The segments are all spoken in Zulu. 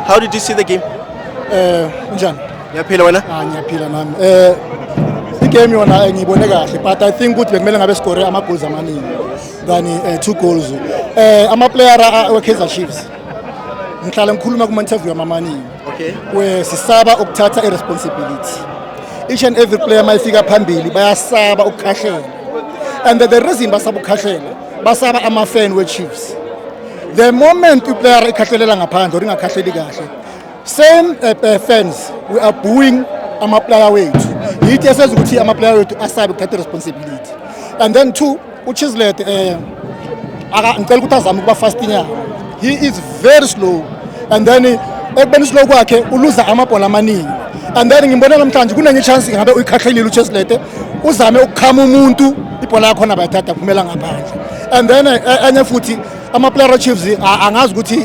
How did you see the game? Eh njani? Ngiyaphila wena? Ah ngiyaphila nami. Eh i-game yona eh, ngiyibone kahle but I think ukuthi bekumele ngabe score ama goals amaningi than eh, two goals. Eh ama player we Kaizer Chiefs. Ngihlale ngikhuluma kuma interview amaningi. Okay. We sisaba ukuthatha i responsibility. Each and every player mayifika phambili bayasaba ukukhahlela. And the reason basaba ukukhahlela basaba ama fan we Chiefs. the moment iplayer ikhahlelelwa ngaphandle or ingakhahleli kahle same uh, fans we are booing amaplayer wethu yithi esenza ukuthi amaplayer wethu asabe ukuthatha responsibility and then two uchislet um eh, ngicela ukuthi azame ukuba fastinyana he is very slow and then eh, ekubeni slow kwakhe uluza amabhola amaningi and then ngimbona namhlanje kunenye ichance ngabe uyikhahlelile ucheslet uzame ukukhama umuntu ibhola yakhona bayithatha kuphumela ngaphandle and then eh, eh, enye futhi amaplayer achiefs angazi ukuthi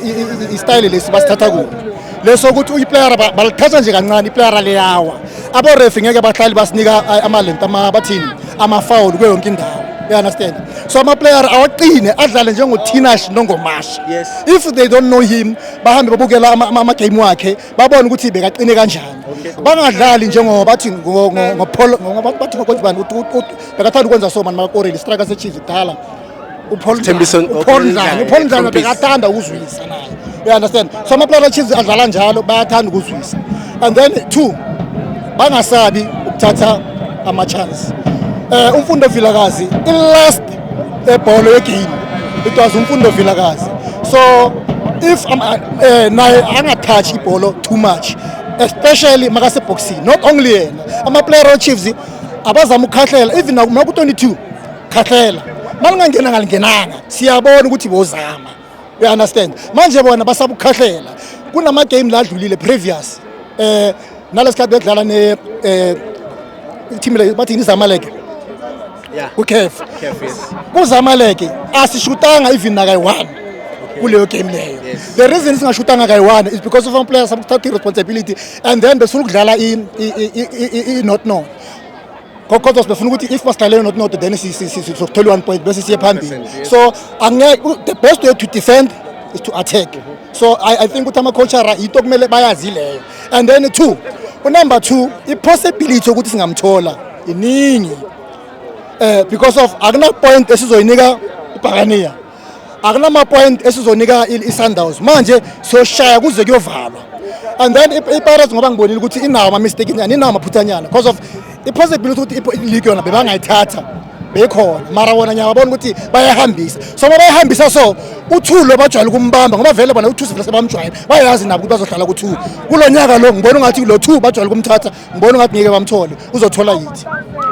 istyle lesi basithatha kuphi leso ukuthi uyiplayer balithatha nje kancane iplayer leyawa aborefi ngeke bahlali basinika eh, amalent bathini amafawul kuyo yonke indawo you understand so amaplayer awaqine adlale njengothinash nongomasha yes. if they don't know him bahambe babukela amagame wakhe babone ukuthi bekaqine kanjani okay. bangadlali njengoba bathi ngobathi bekathanda ukwenza so mani makakoreli strike sechiefs kudala upaul ndlana upaul ndlana bekathanda ukuzwisa naye you understand so amaplayer achiefs adlala njalo bayathanda ukuzwisa and then two bangasabi ukuthatha ama-chance um umfundo vilakazi i-last ebholo yegame it was umfundo vilakazi so if um, uh, eh, naye angathathi ibholo too much especially makasebhoksini not only yena amaplayer ochiefs abazama ukukhahlela even naku 22 khahlela malingangena ngalingenanga siyabona ukuthi bozama you understand manje bona basaba ukukhahlela kunama game la adlulile previous eh nalesikhathi bedlala ne eh team le bathi izamaleke yeah ukef kuzamaleke asishutanga even nakayi one kuleyo game leyo the reason singashutanga kayi one is because of some players abakuthatha i responsibility and then besifuna ukudlala i-not not kodwa sibefuna ukuthi if basidlalele not not then sizothola one point bese siye phambili so angeke the best way to defend is to attack so i, I think ukuthi ama-coachara yinto kumele bayazi leyo and then two unumber two i-possibility yokuthi singamthola iningi um because of akunapoint esizoyinika ibhakaniya akunamapoint esizonika i-sundowns manje siyoshaya kuze kuyovalwa and then ipirates ngoba ngibonile ukuthi inawo ama-mistake nyana inawo amaphuthanyana because of i-possibility ukuthi iligi yona bebangayithatha bekhona mara wona ngiyababona ukuthi bayahambisa so uma bayahambisa so u-two lo bajwayele ukumbamba ngoba vele bona u-two sivele sebamjwayele bayazi nabo ukuthi bazohlala ku-two kulo nyaka lo ngibona ungathi lo-two bajwayele ukumthatha ngibona ungathi ngeke bamthole uzothola yithi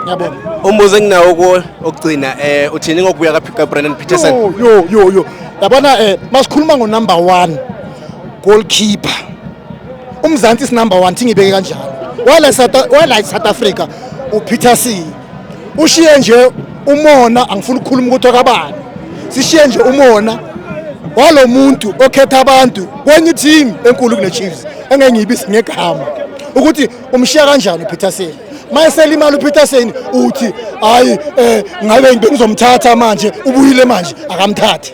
yabona umbuzo enginawo kuwo okugcina um uthini ngokubuya kabrandon peterson yo yo yo yabona um eh, masikhuluma ngonumber one goalkeeper umzansi sinumber one thingibeke kanjalo wala south africa upeterson ushiye nje umona angifuni ukukhuluma ukuthi akabani sishiye nje umona walo muntu okhetha abantu kwenye team enkulu kuneChiefs engeke ngiyibise ngegama ukuthi umshiya kanjani uPeterson mayesela imali uPeterson uthi hayi eh ngabe ngizomthatha manje ubuyile manje akamthathe